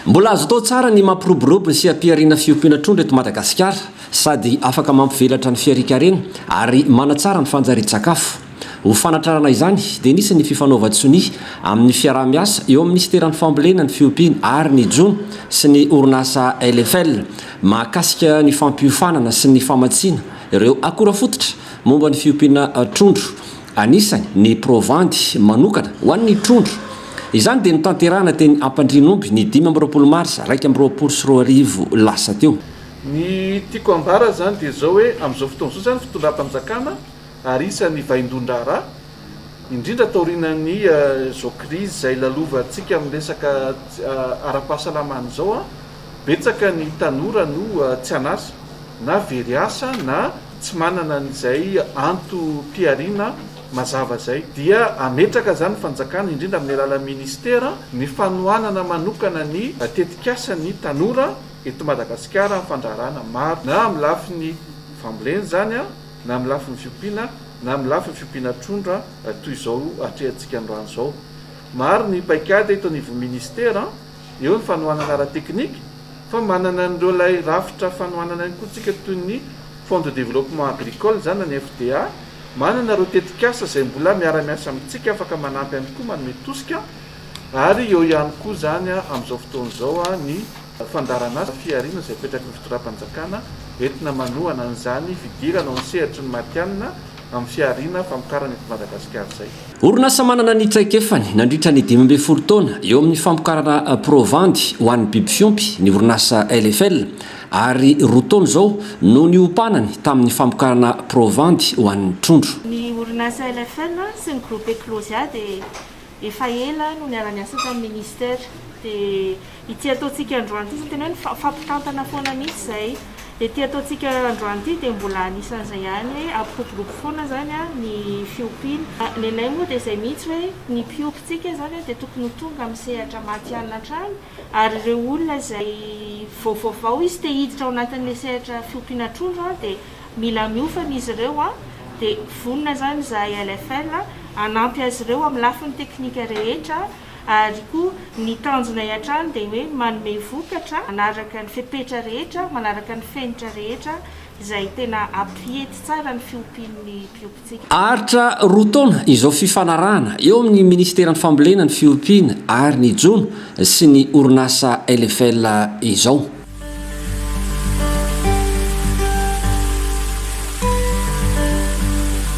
Mbola azo atao tsara ny mampiroborobo sy ampiharina fiompiana trondro eto Madagasikara sady afaka mampivelatra ny fiharian-karena ary manatsara ny fanjarian-tsakafo. Ho fanatrarana izany dia nisy ny fifanaovan-tsonia amin'ny fiaraha-miasa eo amin'ny Minisiteran'ny Fambolena, ny Fiompiana ary ny Jono sy ny orinasa LFL mahakasika ny fampiofanana sy ny famatsiana ireo akora fototra Momba ny fiompiana trondro, anisany ny provandy manokana ho an'ny trondro. Izany dia notanterahina teny Ampandrianomby ny dimy amby roapolo marsa iraika amby roapolo sy roa arivo lasa teo. Ny tiako ambara izany dia izao hoe amin'izao fotoana izao izany fitondram-panjakana ary isan'ny vaindohan-draharaha, indrindra taorianan'izao krizy izay lalovantsika amin'ny resaka ara-pahasalamana izao, betsaka ny tanora no tsy an'asa na very asa na tsy manana an'izay antom-pihariana mazava izay, dia hametraka izany ny fanjakana, indrindra amin'ny alalan'ny minisitera, ny fanohanana manokana ny tetikasan'ny tanora eto Madagasikara amin'ny fandraharahana maro, na amin'ny lafiny fambolena izany, na amin'ny lafiny fiompiana, na amin'ny lafiny fiompiana trondro, toy izao atrehantsika androany izao. Maro ny paikady eto anivon'ny minisitera. eo ny fanohanana ara-teknika, fa manana an'ireo ilay rafitra fanohanana ihany koa tsika toy ny Fonds de Développement Agricole izany na ny FDA, manana ireo tetikasa izay mbola miara-miasa amintsika afaka manampy ihany koa manome tosika ary eo ihany koa izany amin'izao fotoana izao ny fandaharan'asa fihariana izay apetraky ny fitondram-panjakana entina manohana an'izany fidirana ao amin'ny sehatry ny matihanina amin'ny fihariana famokarana eto Madagasikara izay. Orinasa manana ny traikefany nandritra ny dimy ambin'ny folo taona eo amin'ny famokarana provandy ho an'ny biby fiompy ny orinasa LFL ary roa taona izao no niompanany tamin'ny famokarana provandy ho an'ny trondro. Ny orinasa LFL sy ny groupe Eclosia dia Efa ela no niara-niasa tamin'ny Ministera, dia ity ataontsika androany ity, izany tena hoe mifampitantana foana mihitsy izay. Dia ity ataontsika androany ity dia mbola anisan'izay ihany hoe ampiroborobo foana izany ny fiompiana. Ny anay moa dia izay mihitsy hoe ny mpiompintsika izany dia tokony ho tonga amin'ny sehatra matihanina hatrany, Ary ireo olona izay vao vaovao izy te hiditra ao anatin'ilay sehatra fiompiana trondro an, dia mila miofana izy ireo an, dia vonona izany izahay LFL hanampy azy ireo amin'ny lafiny teknika rehetra ary koa ny tanjonay hatrany dia hoe manome vokatra manaraka ny fepetra rehetra, manaraka ny fenitra rehetra izay tena hampiety tsara ny fiompian'ny mpiompy. Haharitra roa taona izao fifanarahana eo amin'ny Ministeran'ny Fambolena, ny Fiompiana ary ny Jono sy ny orinasa LFL izao.